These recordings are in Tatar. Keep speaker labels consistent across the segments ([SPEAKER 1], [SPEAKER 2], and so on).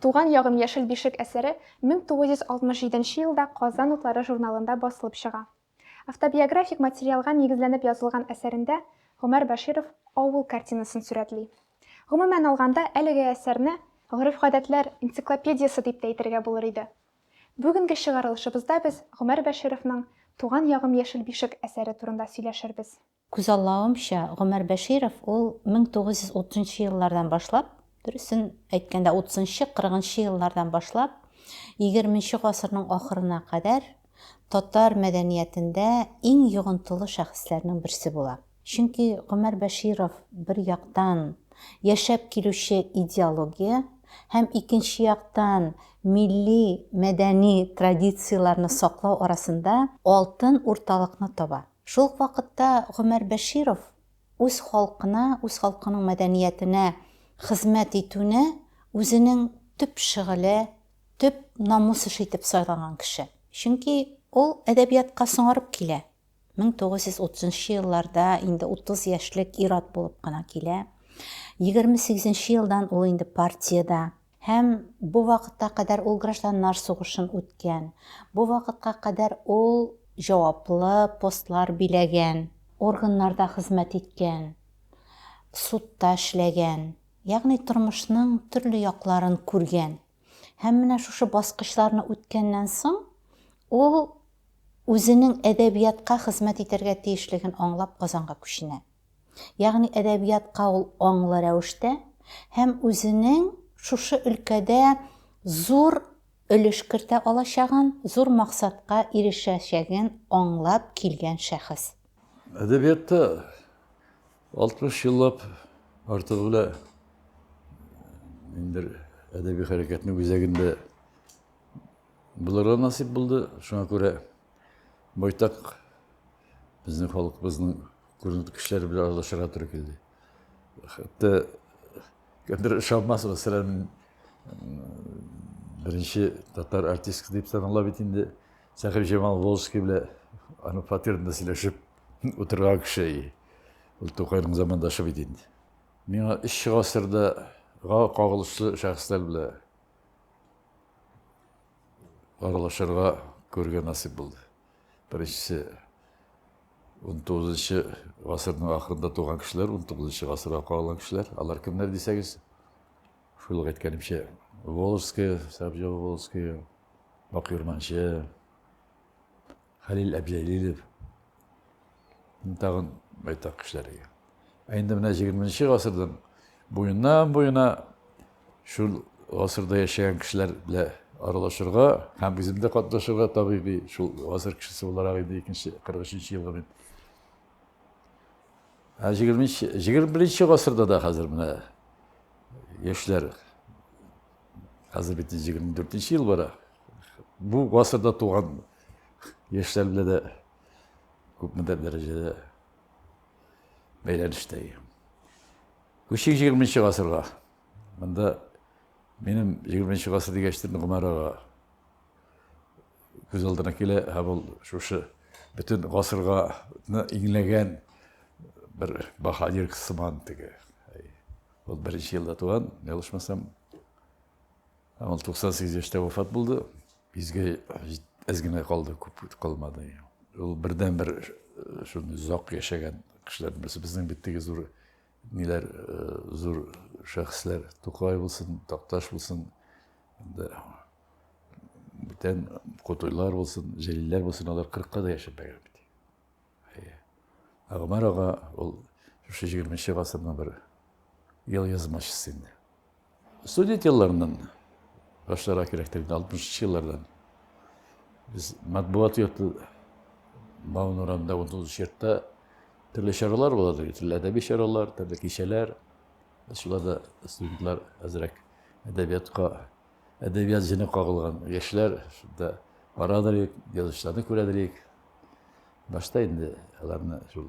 [SPEAKER 1] Туган ягым яшел бишек әсәре 1967 нче елда Казан утлары журналында басылып чыга. Автобиографик материалга нигезләнеп язылган әсәрендә Гомәр Бәширов авыл картинасын сурәтли. Гомумән алганда, әлеге әсәрне гореф-гадәтләр энциклопедиясе дип тә әйтергә булыр иде. Бүгенге чыгарылышыбызда без Гомәр Бәшировның Туган ягым яшел бишек әсәре турында сөйләшербез. Күзаллавымча,
[SPEAKER 2] Гомәр Бәширов ул 1930 нчы еллардан башлап, дөресен әйткәндә, 30 нчы, 40 нчы еллардан башлап, егерме нче гасырның ахырына кадәр татар мәдәниятендә иң йогынтылы шәхесләрнең берсе була. Чөнки Гомәр Бәширов, бер яктан, яшәп килүче идеология һәм, икенче яктан, милли, мәдәни традицияләрне саклау арасында алтын урталыкны таба. Шул ук вакытта Гомәр Бәширов үз халкына, үз халкының мәдәниятенә хезмәт итүне үзенең төп шөгыле, төп намус эше итеп сайлаган кеше. Чөнки ул әдәбиятка соңарып килә. 1930 нчы елларда инде 30 яшьлек ир-ат булып кына килә. Егерме сигезенче елдан ул инде партиядә. Һәм бу вакытка кадәр ул гражданнар сугышын үткән, бу вакытка кадәр ул җаваплы постлар биләгән, органнарда хезмәт иткән, судта эшләгән, ягъни тормышның төрле якларын күргән. Һәм менә шушы баскычларны үткәннән соң, ул үзенең әдәбиятка хезмәт итәргә тиешлеген аңлап Казанга күченә. Ягъни әдәбиятка ул аңлы рәвештә һәм үзенең шушы өлкәдә зур өлеш кертә алачагын, зур максатка ирешәчәген аңлап килгән шәхес. Әдәбиятта
[SPEAKER 3] 60 еллап артыгы белән мин бер әдәби хәрәкәтнең үзәгендә булырга насыйп булды. Шуңа күрә байтак Безнең халкыбызның күренекле кешеләре белән аралашырга туры килде. Хәтта кемдер ышанмас, мәсәлән, беренче татар артистка дип таныла бит инде Сәхип Җамал Волжский белән аның фатирында сөйләшеп утырган кеше. Ул Тукайның замандашы бит инде. Миңа өч гасырда кагылышлы шәхесләр белән аралашырга күргә насыйп булды. Беренчесе, унтугызынчы гасырның ахырында туган кешеләр, унтугызынчы гасырга каралган кешеләр. Алар кемнәр дисәгез, шул ук әйткәнемчә, Волжская, Сабжева Волжская, Бакырманчы, Хәлил Әбҗәлилев, тагын байтак кешеләргә. Ә инде менә егерменче гасырдың буеннан буена шул гасырда яшәгән кешеләр белән аралашырга һәм үзем дә катнашырга табигый шул гасыр кешесе буларак инде икенче кырык өченче елгы мин ә егерме беренче гасырда да хәзер менә яшьләр хәзер бит егерме дүртенче ел бара бу гасырда туган яшьләр белән дә күпмедер дәрәҗәдә бәйләнештә. Күчик 20-нче гасырга. Монда минем 20-нче гасыр дигәч, Гомәрова күз алдына килә, һәм ул шушы бөтен гасырга иңләгән бер баһадир сыман теге. Ул беренче елда туган, ялгышмасам. Ул 98 яшьтә вафат булды. Безгә әз генә калды, күп калмады. Ул бердән бер шундый озак яшәгән кешеләрнең берсе. Безнең бит теге зур ниләр зур шәхесләр Тукай булсын, Такташ булсын, да бүтән Котойлар булсын, Җәлилләр булсын, алар 40-ка да яшәп бәгәрәп Ә Гомәр ага ул шушы җигерменче гасырның бер ел язмачысы инде. Студент елларыннан башларга кирәк тә инде, алтмышынчы еллардан. Без матбугат йорты Баун урамында он тугызынчы йортта төрле чаралар була иде, төрле әдәби чаралар, төрле кичәләр. Шуларда студентлар әзрәк әдәбиятка, әдәбият җене кагылган яшьләр шунда барадыр, язучыларны күрәдер. башта инде аларны шул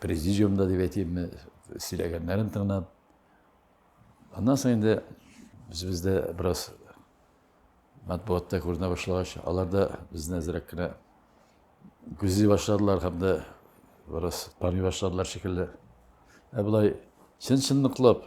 [SPEAKER 3] президиумда дип әйтимме сөйләгәннәрен тыңлап аннан соң инде үзебездә бераз матбугатта күренә башлагач алар да безне әзрәк кенә күзли башладылар һәм дә бераз таный башладылар шикелле ә болай чын чынлыклап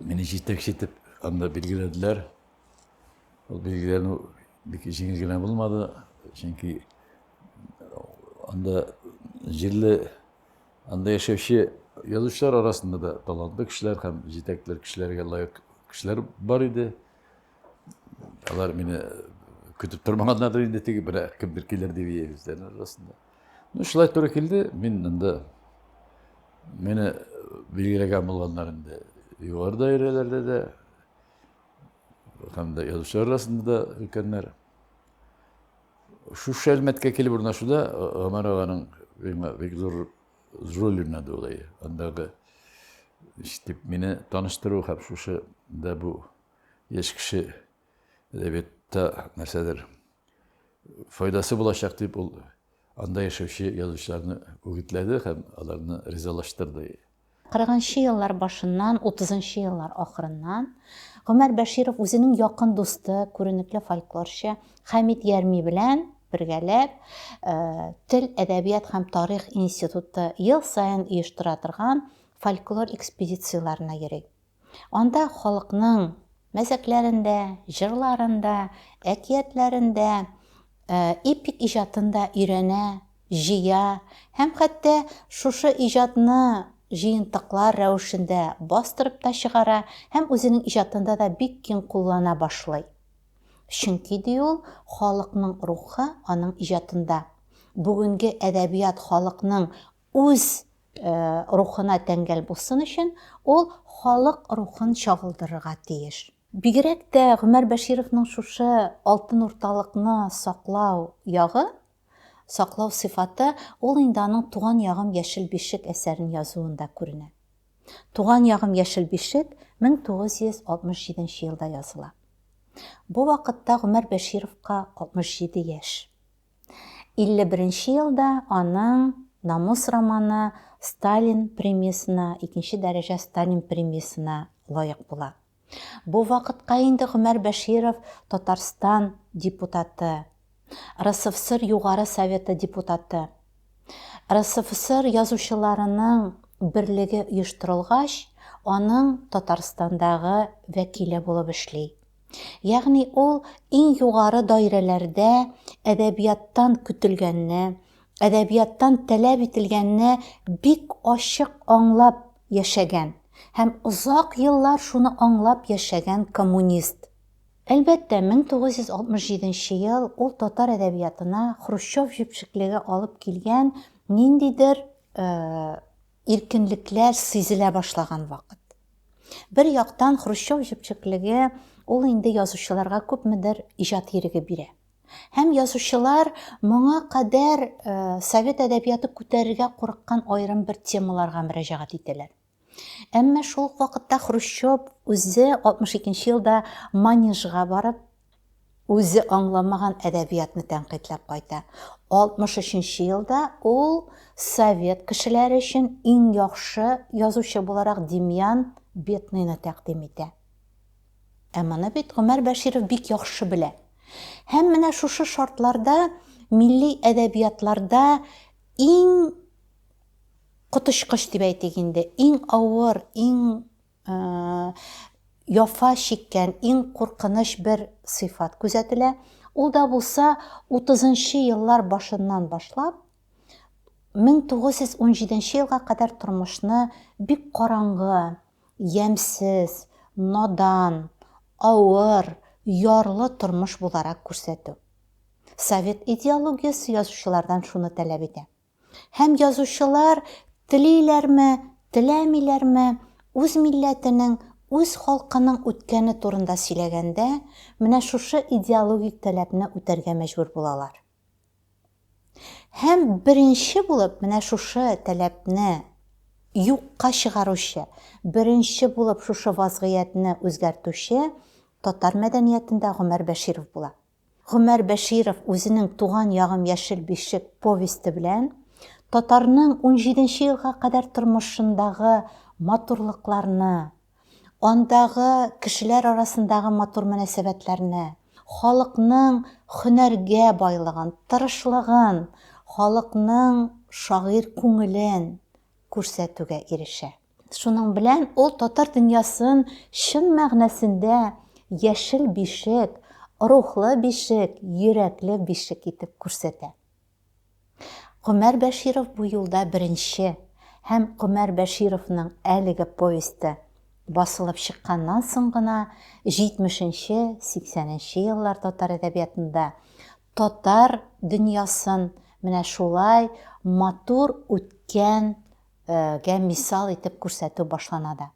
[SPEAKER 3] Мине җитәкче итеп анда билгеләделәр. Ул билгеләнү бик җиңел генә булмады, чөнки анда җирле анда яшәүче язучылар арасында да талантлы кешеләр һәм җитәкләр кешеләргә лаек кешеләр бар иде. Алар мине көтеп тормаганнардыр инде теге бер кемдер килер дип үзләренең арасында. Ну, шулай туры килде, мин инде мине билгеләгән булганнар инде югары даирәләрдә дә һәм дә язучылар арасында да өлкәннәр. Шушы Әлмәткә килеп урнашуда Гомәр аганың бик зур роль уйнады ул әйе. Андагы ишетеп мине таныштыру һәм шушы да бу яшь кеше әдәбиятта нәрсәдер файдасы булачак дип ул анда яшәүче язучыларны үгетләде һәм аларны ризалаштырды. Кырыгынчы
[SPEAKER 2] еллар башыннан утызынчы еллар ахырыннан Гомәр Бәширов үзенең якын дусты, күренекле фольклорчы Хәмит Ярми белән бергәләп Тел, әдәбият һәм тарих институты ел саен оештыра торган фольклор экспедицияләренә йөри. Анда халыкның мәзәкләрендә, җырларында, әкиятләрендә, эпик иҗатында өйрәнә, җыя һәм хәтта шушы иҗатны җыентыклар рәвешендә бастырып та чыгара һәм үзенең иҗатында да бик киң куллана башлый. Чөнки, ди ул, халыкның рухы аның иҗатында. Бүгенге әдәбият халыкның үз рухына тәңгәл булсын өчен, ул халык рухын чагылдырырга тиеш. Бигрәк тә Гомәр Бәшировның шушы алтын урталыкны саклау ягы, саклау сыйфаты, ул инде аның Туган ягым яшел бишек әсәрен язуында күренә. Туган ягым яшел бишек 1967 нче елда языла. Бу вакытта Гомәр Бәшировка 67 яшь. Илле беренче елда аның Намус романы Сталин премиясенә, икенче дәрәҗә Сталин премиясенә лаек була. Бу вакытка инде Гомәр Бәширов Татарстан депутаты, РСФСР Югары Советы депутаты. РСФСР Язучыларының берлеге оештырылгач, аның Татарстандагы вәкиле булып эшли. Ягъни ул иң югары даирәләрдә әдәбияттан көтелгәнне, әдәбияттан таләп ителгәнне бик ачык аңлап яшәгән һәм озак еллар шуны аңлап яшәгән коммунист. Әлбәттә, 1967 ел ул татар әдәбиятына Хрущев җепшеклеге алып килгән ниндидер иркенлекләр сизелә башлаган вакыт. Бер яктан Хрущев җепчеклеге ул инде язучыларга күпмедер иҗат иреге бирә. Һәм язучылар моңа кадәр э, совет әдәбияты күтәрергә курыккан аерым бер темаларга мөрәҗәгать итәләр. Әмма шул ук вакытта Хрущев үзе 62 елда Манежга барып, Үзе аңламаган әдәбиятны тәнкыйтьләп кайта. 63 нче елда ул совет кешеләре өчен иң яхшы язучы буларак Демьян Бедныйны тәкъдим итә. Ә моны бит Гомәр Бәширов бик яхшы белә. Һәм менә шушы шартларда милли әдәбиятларда иң коточкыч дип әйтик инде, иң авыр, иң яфа чиккән иң куркыныч бер сыйфат күзәтелә. Ул да булса 30-нчы еллар башыннан башлап 1917 елга кадәр тормышны бик караңгы, ямьсез, надан, авыр, ярлы тормыш буларак күрсәтү. Совет идеологиясе язучылардан шуны таләп итә. Һәм язучылар, телиләрме, теләмиләрме, үз милләтенең, үз халкының үткәне турында сөйләгәндә, менә шушы идеологик таләпне үтәргә мәҗбүр булалар. Һәм беренче булып менә шушы таләпне юкка чыгаручы, беренче булып шушы вазгыятьне үзгәртүче татар мәдәниятендә Гомәр Бәширов була. Гомәр Бәширов үзенең Туган ягым яшел бишек повесте белән татарның унҗиденче елга кадәр тормышындагы матурлыкларны, андагы кешеләр арасындагы матур мөнәсәбәтләрне, халыкның һөнәргә байлыгын, тырышлыгын, халыкның шагыйрь күңелен күрсәтүгә ирешә. Шуның белән ул татар дөньясын чын мәгънәсендә яшел бишек, рухлы бишек, йөрәкле бишек итеп күрсәтә. Гомәр Бәширов бу юлда беренче һәм Гомәр Бәшировның әлеге повесте басылып чыкканнан соң гына 70-нче, 80-нче еллар татар әдәбиятында татар дөньясын менә шулай матур үткән гә мисал итеп күрсәтү башлана да.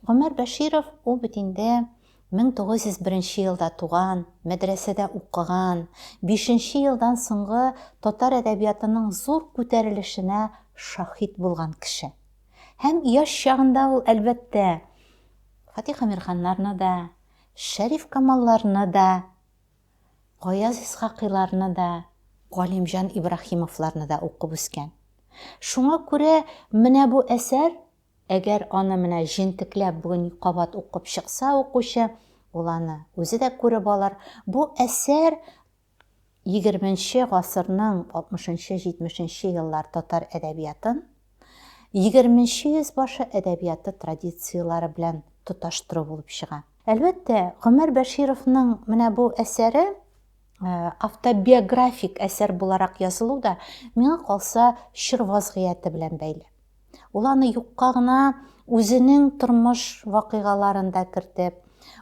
[SPEAKER 2] Гомәр Бәширов ул бит инде 1901 елда туган, мәдрәсәдә укыган, бишенче елдан соңгы татар әдәбиятының зур күтәрелешенә шаһит булган кеше. Һәм яшь чагында ул, әлбәттә, Фатих Әмирханнарны да, Шәриф Камалларны да, Гаяз Исхакыйларны да, Галимҗан Ибраһимовларны да укып үскән. Шуңа күрә менә бу әсәр, әгәр аны менә җентекләп бүген кабат укып чыкса укучы, ул аны үзе дә күреп алыр, бу әсәр егерменче гасырның алтмышынчы-җитмешенче еллар татар әдәбиятын, егерменче йөз башы әдәбияты традицияләре белән тоташтыру булып чыга. Әлбәттә, Гомәр Бәшировның менә бу әсәре э, автобиографик әсәр буларак язылу да миңа калса чор вазгыяте белән бәйле. Ул аны юкка гына үзенең тормыш вакыйгаларын да кертеп,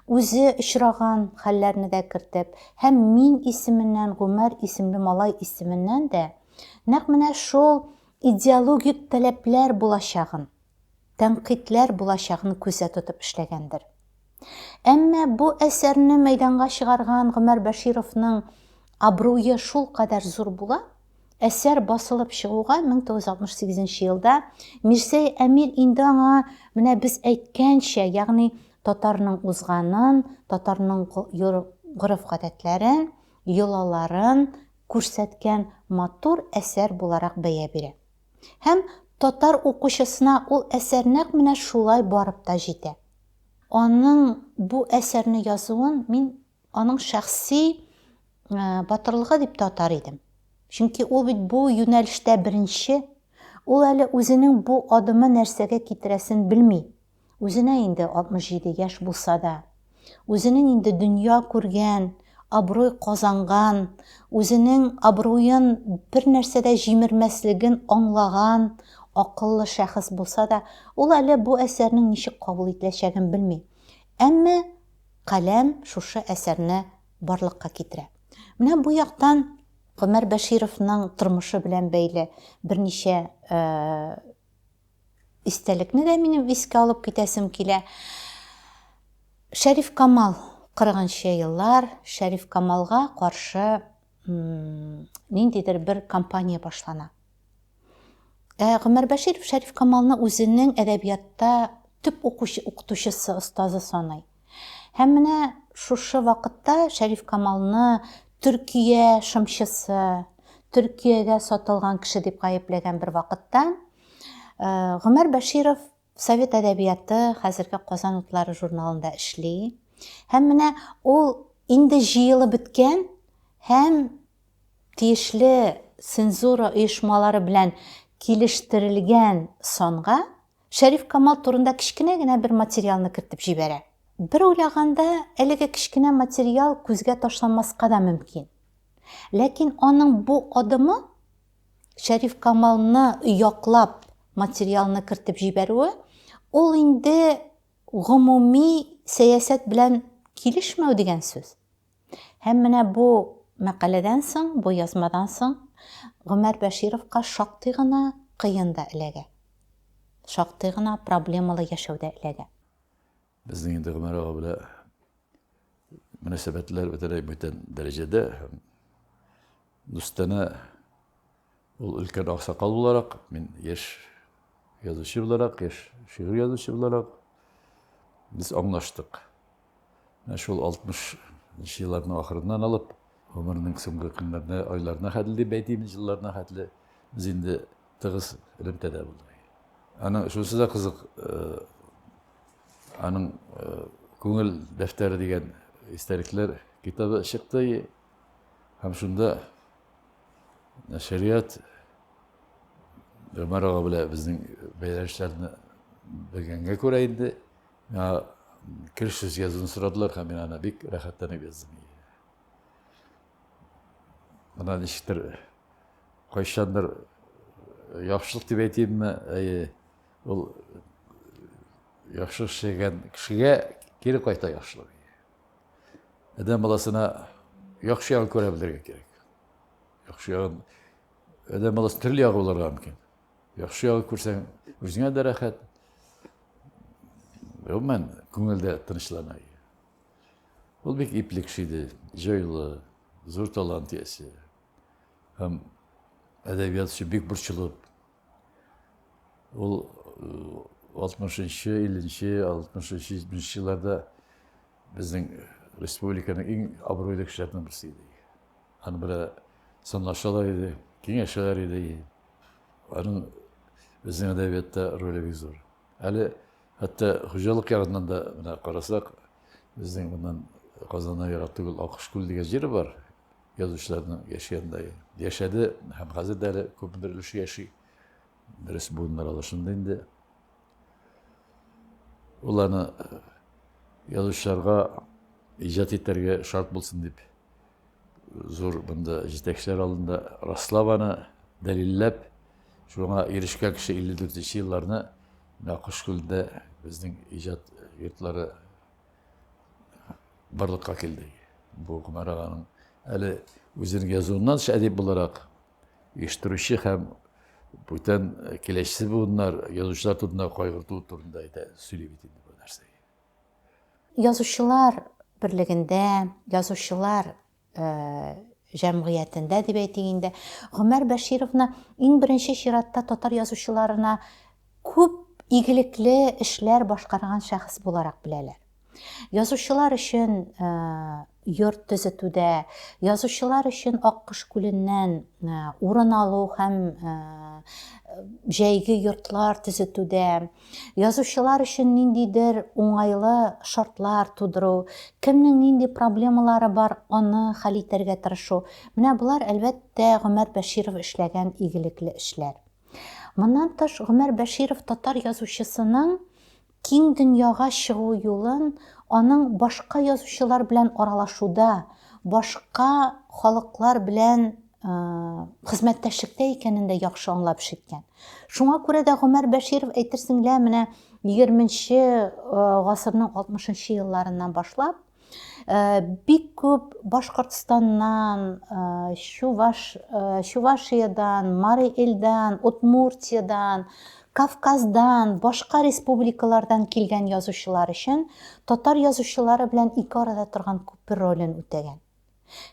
[SPEAKER 2] үзе очраган хәлләрне дә кертеп һәм мин исеменнән гомәр исемле малай исеменнән дә нәкъ менә шул идеологик таләпләр булачагын, тәнкыйтьләр булачагын күздә тотып эшләгәндер. Әмма бу әсәрне мәйданга чыгарган Гомәр Бәшировның абруе шул кадәр зур була, әсәр басылып чыгуга 1968 елда Мирсәй Әмир инде аңа менә без әйткәнчә, ягъни татарның узганын, татарның гореф-гадәтләрен, йолаларын, күрсәткән матур әсәр буларак бәя бирә. Һәм татар укучысына ул әсәр нәкъ менә шулай барып та җитә. Аның бу әсәрне язуын мин аның шәхси батырлыгы дип тә атар идем. Чөнки ул бит бу юнәлештә беренче, ул әле үзенең бу адымы нәрсәгә китерәсен белми. Үзенә инде 67 яшь булса да, үзенең инде дөнья күргән, абруй казанган, үзенең абруен бернәрсә дә җимермәслеген аңлаган акыллы шәхес булса да, ул әле бу әсәрнең ничек кабул ителәчәген белми. Әмма каләм шушы әсәрне барлыкка китерә. Менә бу яктан Гомәр Бәшировның тормышы белән бәйле берничә истәлекне дә минем искә алып китәсем килә. Шәриф Камал 40 еллар Шәриф Камалга каршы ниндидер бер кампания башлана. Ә Гомәр Бәширов Шәриф Камалны үзенең әдәбиятта төп укучы, укытучысы, остазы саный. Һәм менә шушы вакытта Шәриф Камалны Төркия шымчысы, Төркиягә сатылган кеше дип гаепләгән бер вакытта э, Гомәр Бәширов Совет әдәбияты хәзерге Казан утлары журналында эшли. Һәм менә ул инде җыелып беткән һәм тиешле цензура оешмалары белән килештерелгән санга Шәриф Камал турында кечкенә генә бер материалны кертеп җибәрә. Бер уйлаганда, әлеге кечкенә материал күзгә ташланмаска да мөмкин. Ләкин аның бу адымы, Шәриф Камалны яклап материалны кертеп җибәрүе, ул инде гомуми сәясәт белән килешмәү дигән сүз. Һәм менә бу мәкаләдән соң, бу язмадан соң Гомәр Бәшировка шактый гына кыен да эләгә. Шактый гына проблемалы яшәү дә эләгә. Безнең
[SPEAKER 3] инде Гомәр ага белән мөнәсәбәтләр бөтенләй бүтән дәрәҗәдә. Дустанә ул өлкән аксакал буларак, мин яшь язучы буларак, яшь шигырь язучы буларак, без аңлаштык. Менә шул 60 нчы елларның ахырыннан алып, гомернең соңгы көннәренә, айларына хәтле дип әйтим, елларына хәтле без инде тыгыз элемтәдә булдык. Аның шунысы да кызык, э, аның э, күңел дәфтәре дигән истәлекләр китабы чыкты. Һәм шунда нәшрият Гомәр ага белән безнең бәйләнешләрне белгәнгә күрә инде миңа керешсез язуны сорадылар һәм мин аны бик рәхәтләнеп яздым. Ана ничектер кайчандыр яхшылык дип әйтимме, әйе, ул яхшылык эшләгән кешегә кире кайта яхшылык. Адәм баласына яхшы ягын күрә белергә кирәк. Яхшы ягын адәм баласы төрле ягы булырга мөмкин. Яхшы ягы күрсәң, үзеңә дә рәхәт. Гомумән, күңелдә тынычлана. Ул бик иплек шиде, җайлы, зур талант иясе. Һәм әдәбият өчен бик борчылып, Ул 60-нчы, 50-нче, 60-нчы, 70-нче елларда безнең республиканың иң абруйлы кешеләренең берсе иде. Аны белә сынлашалар иде, киңәшәләр иде. Аның безнең әдәбиятта роле бик зур. Әле хәтта хуҗалык ягыннан да менә карасак, безнең моннан Казаннан ерак түгел Аккошкүл дигән җир бар. Язучыларның яшәгәндәге, яшәде һәм хәзер дә әле күпмедер өлеше яши. Дөрес, буыннар алышынды инде. Ул аны э, язучыларга иҗат итәргә шарт булсын дип зур монда җитәкчеләр алдында раслап аны, дәлилләп, шуңа ирешкән кеше 54 елларны Нәкышкүлдә безнең иҗат йортлары барлыкка килдек. Бу Гомәр аганың әле үзенең язуыннан тыш әдип буларак оештыручы һәм бүтән э, киләчәсе буыннар язучылар турында кайгырту турында әйтә сөйли бит инде бу нәрсә. Язучылар
[SPEAKER 2] берлегендә, язучылар җәмгыятендә дип әйтик инде. Гомәр Бәшировны иң беренче чиратта татар язучыларына күп игелекле эшләр башкарган шәхес буларак беләләр. Язучылар өчен йорт төзетүдә, язучылар өчен Аккош күленнән урын алу һәм җәйге йортлар төзетүдә, Язучылар өчен ниндидер уңайлы шартлар тудыру, кемнең нинди проблемалары бар, аны хәл итәргә тырышу, менә болар, әлбәттә, Гомәр Бәширов эшләгән игелекле эшләр. Моннан тыш, Гомәр Бәширов татар язучысының киң дөньяга чыгу юлын, аның башка язучылар белән аралашуда, башка халыклар белән хезмәттәшлектә икәнен дә яхшы аңлап шиткән. Шуңа күрә дә Гомәр Бәширов әйтерсең лә менә 20-нче гасырның 60-нчы елларыннан башлап бик күп Башкортстаннан, Чуваш, Чувашиядан, Мары Элдан, Удмуртиядан, Кавказдан, башка республикалардан килгән язучылар өчен татар язучылары белән ике арада торган күпер ролен үтәгән.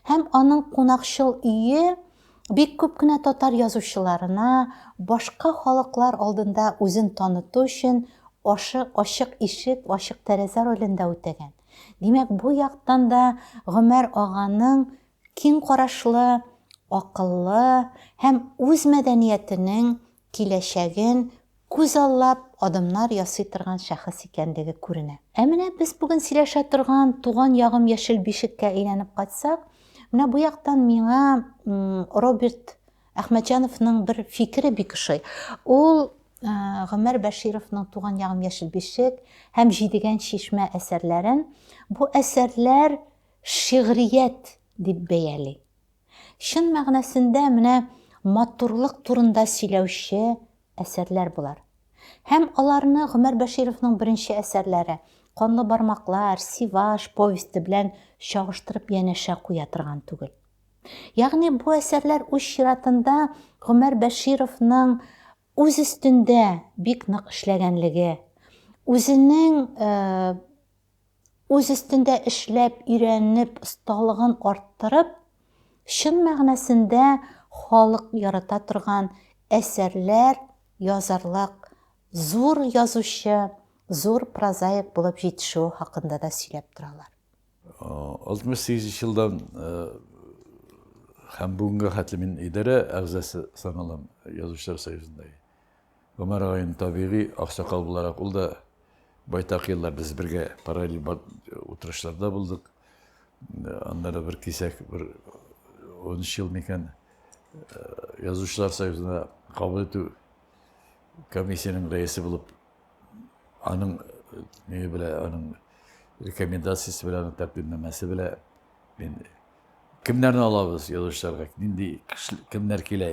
[SPEAKER 2] Һәм аның кунакчыл өе бик күп кенә татар язучыларына, башка халыклар алдында үзен таныту өчен ашы, ачык ишек, ачык тәрәзә ролен дә үтәгән. Димәк, бу яктан да Гомәр аганың киң карашлы, акыллы һәм үз мәдәниятенең киләчәген күзаллап адымнар ясый торган шәхес икәнлеге күренә. Ә менә без бүген сөйләшә торган туган ягым яшел бишеккә әйләнеп кайтсак, менә бу яктан миңа Роберт Әхмәтҗановның бер фикере бик ошый. Ул Гомәр Бәшировның Туган ягым яшел бишек һәм Җидегән чишмә әсәрләрен бу әсәрләр шигърият дип бәяли. Чын мәгънәсендә менә матурлык турында сөйләүче әсәрләр болар. Һәм аларны Гомәр Бәшировның беренче әсәрләре, Канлы бармаклар, Сиваш повесте белән чагыштырып янәшә куя торган түгел. Ягъни бу әсәрләр үз чиратында Гомәр Бәшировның үз өстендә бик нык эшләгәнлеге, үзенең үз өстендә эшләп, өйрәнеп, осталыгын арттырып, чын мәгънәсендә халык ярата торган әсәрләр язарлык зур язучы, зур прозаик булып җитешүе хакында да сөйләп торалар. 68
[SPEAKER 3] нче елдан һәм бүгенгә хәтле мин идарә әгъзасы саналам, язучылар союзында. Гомәр агаем табигый аксакал буларак, ул да байтак еллар без бергә параллель утырышларда булдык. Аннары бер кисәк, бер 13 ел микән Язучылар союзына кабул итү комиссиянең рәисе булып, аның нигә белә, аның рекомендациясе белән, тәкъдимнамәсе белән мин Кемнәрне алабыз язучыларга, нинди кемнәр килә?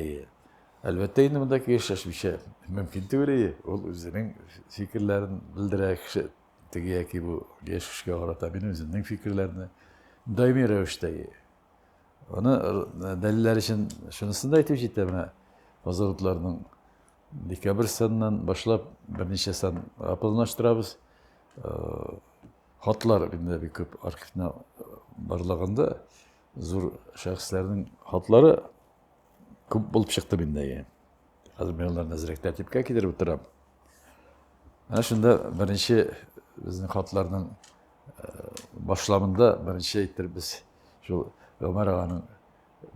[SPEAKER 3] Әлбәттә, инде монда кеше шашмичә мөмкин түгел. Ул үзенең фикерләрен белдерә кеше теге яки бу яшь кешегә карата мин үземнең фикерләрне даими рәвештә. Аны э, дәлилләр өчен шунысын да әйтеп җитә менә Азатларның декабрь саннан башлап берничә санга планлаштырабыз. Э, Хатлар инде бик күп архивна барлыгында зур шәхесләрнең хатлары күп булып чыкты инде. Хәзер мин аларны әзрәк тәртипкә китереп утырам. Менә шунда беренче безнең хатларның э, башламында беренче әйтер без шул Гомәр аганың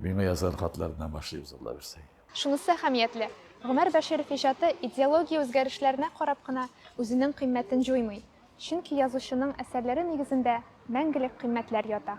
[SPEAKER 3] Миңа язган хатларыннан башлыйбыз, Алла бирсә. Шунысы әһәмиятле,
[SPEAKER 1] Гомәр Бәширов иҗаты идеология үзгәрешләренә карап кына үзенең кыйммәтен җуймый, чөнки язучының әсәрләре нигезендә мәңгелек кыйммәтләр ята.